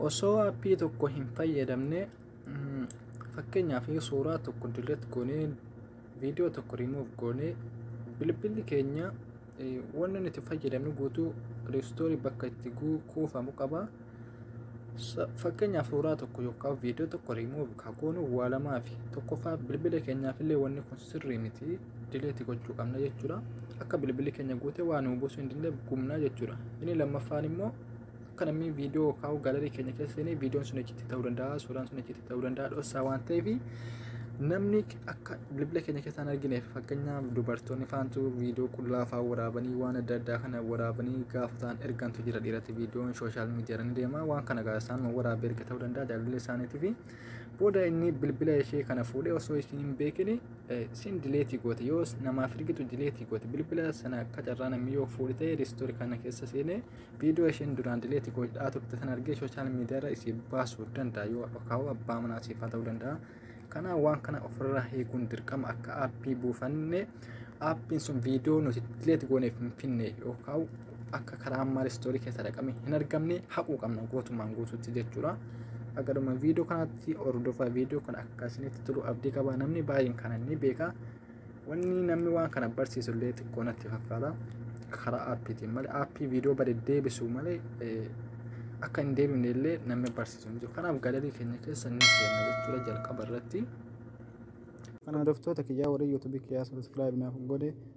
osoo appii tokko hin fayyadamne mm, fakkeenyaaf suuraa tokko delete goonee viidiyoo tokko remove goonee bilbilli keenya eh, wanni nuti fayyadamnu guutuu restoorii bakka itti guu- kuufamu qaba Sa- fakkeenyaaf suuraa tokko yookaan viidiyoo tokko remove kaa goonu waa lamaa fi tokkoffaa bilbila keenyaaf illee wanni kun sirrii miti dileeti gochuu qabna jechuudha akka bilbilli keenya guute waa nuu buusuu hin dandeenye gubna jechuudha inni lammaffaan immoo akka namni viidiyoo kaa'u gaalarii keenya keessa seenee viidiyoon sun achitti ta'uu danda'a suuraan sun achitti ta'uu danda'a dhossaa waan ta'eef namni akka bilbila keenya keessa hin argineef fakkeenyaaf dubartoonni faantu viidiyoo qullaa fa'aa waraabanii waan adda addaa kana waraabanii gaafa ta'an ergantu jira dhiiratti viidiyoon sooshaal miidiyaa irra ni deema waan kana gaafa isaan waraabee erga ta'uu danda'a jaalallee isaaniitii fi Booda inni bilbila ishee kana fuudhee osoo isheen hin beekin siin dileetii goote yoo namaaf ergitu dileetii goote bilbila sana akka carraa namni yoo fuudhe ta'e riistoori kana keessa seenee viidiyoo isheen duraan dileetii godhaa turte sana argee sooshaal miidiyaarra isii baasuu danda'a yoo akaawuu abbaa manaa siif haa ta'uu danda'a. Kana waan kana ofirraa eeguun dirqama akka aappii buufanne aappiin sun viidiyoo nuti dileetii gooneef hin finne yookaan akka karaa ammaa ristoorii keessa dhaqame hin argamne haquu qabna gootumaan guutuutti jechuudha. Agaruma viidiyoo kanatti hordofaa viidiyoo kana akka isinitti tolu abdii qaba namni baay'een kana ni beeka. Wanni namni waan kana barsiisu illee xiqqoo natti fakkaata. Karaa aappiitiin malee aappii viidiyoo bade deebisu malee akka hin deebifne illee namni barsiisu hin jiru. Kanaaf galarii keenya keessa ni seenna jechuudha jalqaba irratti. Kana hordoftoota kiyyaa warri yuutuubii kiyyaa sabiskiraayib naaf godhe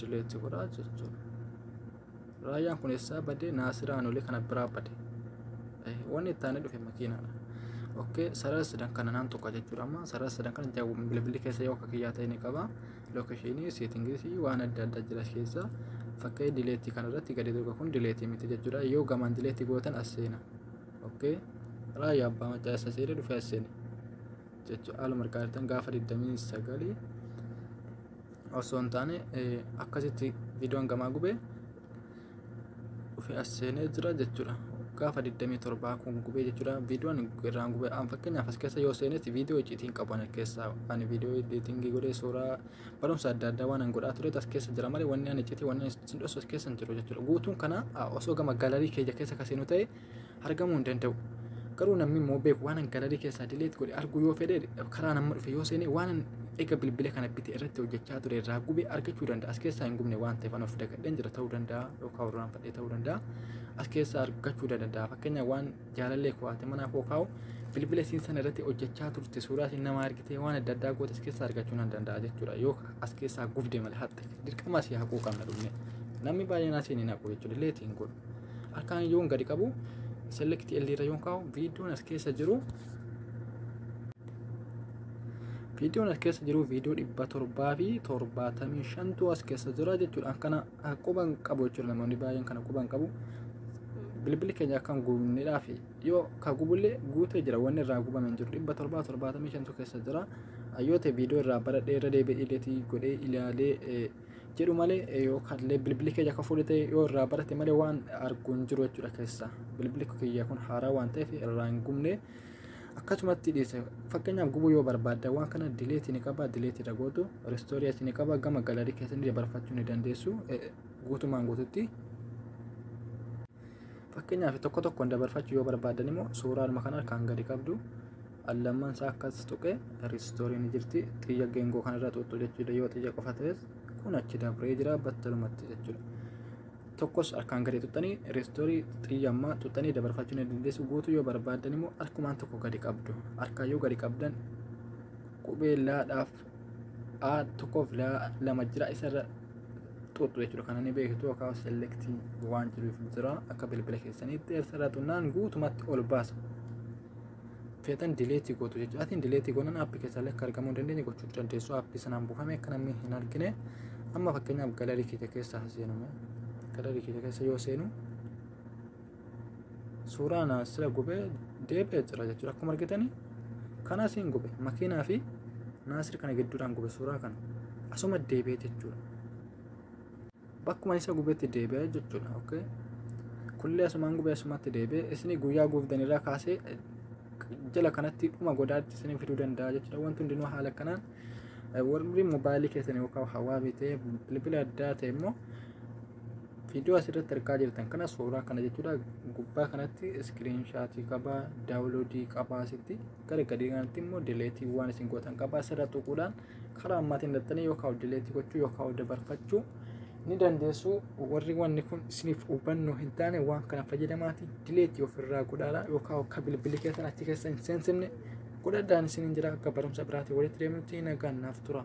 dileetti godhaa jechuudha. Raayyaan kun eessaa badee naasiraa anolee kana biraa bade. Wanni itti aanee dhufe makiinaadha. Okkee sarara sadan kana naan tokko jechuudha amma sarara sadan kana jaawwa bilbilli keessa yoo akka kiyyaa ta'e ni qaba. Lookeshinii seetingisii waan adda addaa jira keessa fakkee dileetti kana irratti gadi dhuga kun dileetti miti jechuudha. Yoo gamaan dileetti gootan as seena. Okkee raayyaa abbaa macaa isa seena dhufe as seena. jechuun haaluma harkaa jirtan gaafa 29 osoo hin taane akkasitti viidiyoon gamaa gubee dhufee as seenee jira jechuudha. Gaafa 27 kun gubee jechuudha viidiyoon irraan gubee aan fakkeenyaaf as keessa yoo seenetti viidiyoo icciitiin qaban keessaa ani viidiyoo editingii godhee suuraa barumsa adda addaa waan an godhaa tureet as keessa jira malee wanni an icciitii wanni an sin dhoosu as keessa hin jiru jechuudha. Guutuun kana osoo gama galarii keenya keessa kaseenuu ta'e argamuu hin danda'u. Garuu namni immoo beeku waan galarii keessaa dileet godhe arguu yoo fedhe karaa nama dhufe yoo seene waan eega bilbila kana bite irratti hojjechaa ture irraa gube argachuu danda'a. As keessaa hin gubne waan ta'eef an of dagadheen jira ta'uu danda'a yookaan warraan fadhee ta'uu danda'a. As keessaa argachuu danda'a. Fakkeenyaaf waan jaalallee koo haati manaa koo kaa'u bilbila siin sana irratti hojjechaa turte suuraa siin nama argitee waan adda addaa goote as keessaa argachuu nan danda'a jechuudha. Yoo as keessaa gubde malee haxxe dirqama asii haquu qabna dhumne. Namni baay'een asiin hin haqu jechuudha. Leetiin godhu. Harkaan yoon gadi qabu select L irra yoon kaa'u viidiyoon as keessa jiru viidiyoon as keessa jiru viidiyoo dhibba torbaa fi torbaatamii shantu as keessa jira jechuudha. Kana quban qabu jechuudha namoonni baay'een kana quban qabu. Bilbilli keenya akkan gubneedhaaf yoo ka gubullee guutee jira wanni irraa gubame hin jiru dhibba torbaa torbaatamii shantu keessa jira. Yoo ta'e viidiyoo irraa baradhee irra deebi'ee ileetii godhee ilaalee jedhu malee yookaan illee bilbilli kiyya akka fuudhee ta'e yoo irraa barate malee waan argu hin jiru jechuudha keessa bilbilli kiyya kun haaraa waan ta'eef irraa hin gubne akkasumatti dhiise fakkeenyaaf gubuu yoo barbaadde waan kana dileetii ni qaba dileetii irra gootu ristoorii achi ni qaba gama galarii keessatti dabarfachuu ni dandeessu guutumaan guututti Fakkeenyaaf tokko tokkoon dabarfachuu yoo barbaaddan immoo suuraadhuma kana kan gadi qabdu al lamman isaa akkas tuqee riistooriin ni jirti xiyya geengoo kanarra xuuxxu jechuudha yoo xiyya qofa ta'es kun achi dabree jira battalumatti jechuudha. Tokkos harkaan gadi xuxxanii riistoorii xiyya ammaa xuxxanii dabarfachuu ni dandeessu guutuu yoo barbaaddan immoo harkumaan tokko gadi qabdu harkaan yoo gadi qabdan qubee laadhaaf a tokko fi lama jira isa irra xuuxxu jechuudha kana ni beektu yookaan selektii waan jiruuf jira akka bilbila keessaniitti isa irra xunnaan guutumatti ol baasa feetan dileetii gootu jechuudha atiin dileetii goonan aappi keessallee akka argamuu dandeenye gochuu dandeessu aappi sanaan buufame akka namni hin argine amma fakkeenyaaf galarii keenya keessa seename galarii keenya keessa yoo seenu suuraa na sila gubee deebi'ee jira jechuudha akkuma argitanii kanas hin gube makiinaa fi naasir kana gidduudhaan gube suuraa kana asuma deebi'ee jechuudha bakkuma isa gubetti deebi'ee jechuudha okay kullee asumaan gubee asumatti deebi'ee isni guyyaa guufdan irraa kaasee jala kanatti dhuma godaatti isin fiduu danda'a jechuudha wanti hundinuu haala kanaan warri mobaayilii keessan yookaan hawaa bitee bilbila addaa ta'e immoo Viidiyoo asirratti argaa jirtan kana suuraa kana jechuudha. Gubbaa kanatti iskiriinshaatii qabaa, daawuloodii qabaa asitti gara gadii kanatti immoo dileetii waan isin gootan qabaa asirra tuquudhaan karaa ammaatiin dattanii yookaan dileetii gochuu yookaan dabarfachuu ni dandeessu. Warri wanni kun isiniif hubannoo hin taane waan kana fayyadamaatii dileetii ofirraa godhaadha yookaan akka bilbilli keessan achi keessa hin seensifne godhadhaan isiniin jira akka barumsa biraatiin walitti deemutti nagaan naaf tura.